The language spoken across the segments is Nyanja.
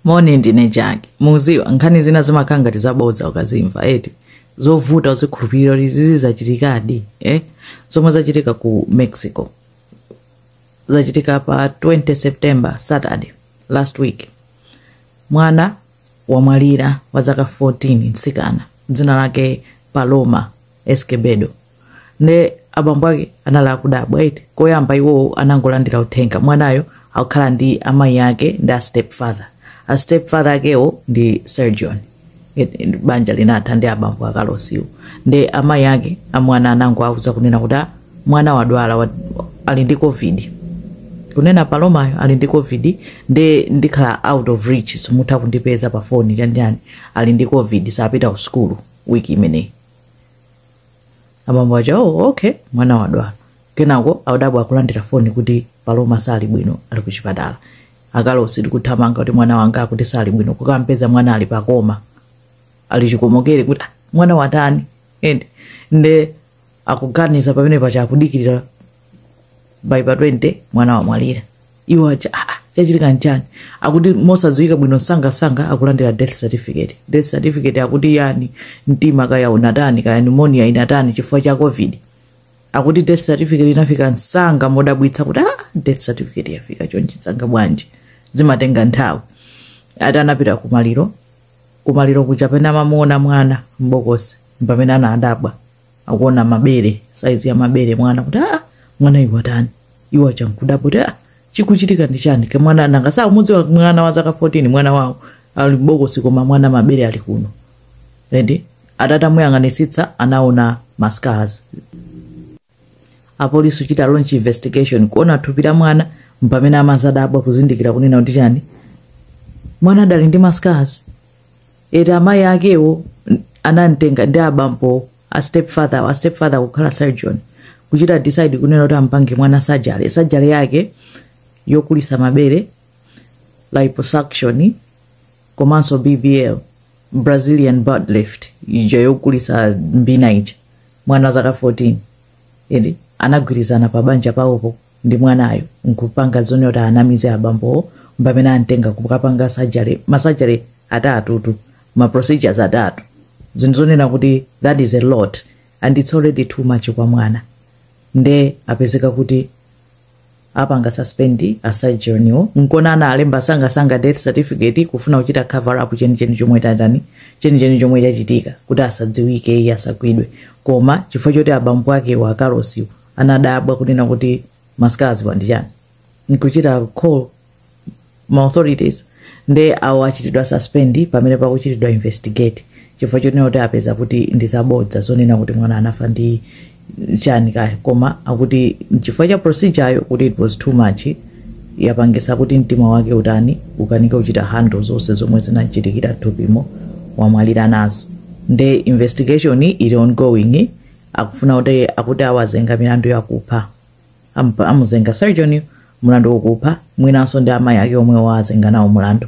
moni ndine Jackie muziwa nkhani zina zimakhala ngati zabodza ukazimva eti zovuta kuzikhulupirira kuti izizi zachitikadi eh? zomwe zachitika ku mexico zachitika pa 20 september saturday last week mwana wamwalira wa zaka 14 mtsikana dzina lake paloma escobedo nde abambo ake anali akudabwa eti koyamba iwo anangolandira uthenga mwanayo akukhala ndi amayi ake ndi a stepfather a stepfather akewo ndi surgeon It- it- banja linatha ndi abambo a Carlos-wo ndi amayi ake amwana anangowauza kunena kuti "Ah, mwana wadwala wa- ali ndi covid kunena palomayo ali ndi covid ndi ndikhala out of reach simutha kundipeza pa foni chanjani ali ndi covid sapita ku sukulu wiki imeneyi abambo aja oh, okay mwana wadwala kenako akudabwa akulandira foni kuti paloma sali bwino ali ku chipatala a Carlos ndikuthamanga kuti mwana wanga akuti sali bwino kukampeza mwana ali pa coma ali chikomokere kuti "Ah, mwana watani and nde akuganiza pamene paja akudikirira by pa 20 mwana wamwalira iwo aja ah, ah, chachitika nchani akuti mosadziwika bwino msangamsanga akulandira death certificate death certificate akuti yani mtima kaya unatani kaya pneumonia inatani chifukwa cha covid akuti death certificate inafika msanga modabwitsa kuti ah, death certificate yafika chonchi msanga bwanji zimatenga nthawi atapita kumaliro kumaliro kuja pomwe amamuona mwana mbokosi mpamene anadabwa akuona mabere saizi ya mabere mwana kuti aa mwana iwe watani iwe ajankudabwa kuti aa chikuchitika ndi chani ke mwana nanga saumudziwa mwana wa zaka 14 mwana wawo ali mbokosi koma mwana mabere ali kuno and atati amuyang'anisitsa anaona mascars apolisi kuchita launch investigation kuona thupi la mwana mpamene amazadabwa kuzindikira kunena kuti chani mwana adali ndi mascars eti amayi akewo anamtenga ndi abambo a stepfather a stepfather kukhala surgeon kuchita decide kunena kuti ampange mwana surgery surgery yake yokulitsa mabere liposuction komanso bbl brazilian butt lift ija yokulitsa mbina ija mwana wa zaka 14 eti anagwirizana pa banja pawopo ndi mwanayo nkupanga zonena kuti awanamize abambowo mpamene amtenga kukapanga surgery ma surgery atatutu ma procedures atatu zinthu zonena kuti that is a lot and it's already too much kwa mwana nde apezeka kuti apanga suspend a surgeon-wo nkona analemba msangamsanga death certificate kufuna kuchita cover up chenicheni chomwe chatani chenicheni chomwe chachitika kuti asadziwike iye asagwidwe koma chifukwa choti abambo akewo a Carlos-wo anadabwa kunena kuti masikazi wandichani nkuchita call ma authorities nde awo achitidwa suspend pamene pakuchitidwa investigate chifukwa chonena kuti apeza kuti ndi zabodza zonena kuti mwana anafa ndi chani kaya koma akuti chifukwa cha procedure ayo kuti it was too much yapangisa kuti mtima wake utani ukanike kuchita handle zonse zomwe zinachitikira thupimo wamwalira nazo nde investigation ili ongoing akufuna kuti akuti awazenga milandu yakupha Ampa- amuzenga surgeon mulandu wokupha mwinanso ndi amayi ake omwe wawazenga nawo mulandu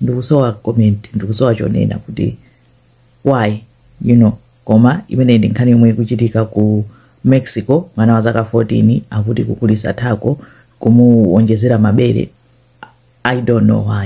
ndikusowa comment ndikusowa chonena kuti why you know koma imeneyi ndi nkhani yomwe ikuchitika ku mexico mwana wa zaka 14 akuti kukulisa thako kumuwonjezera mabere i don't know why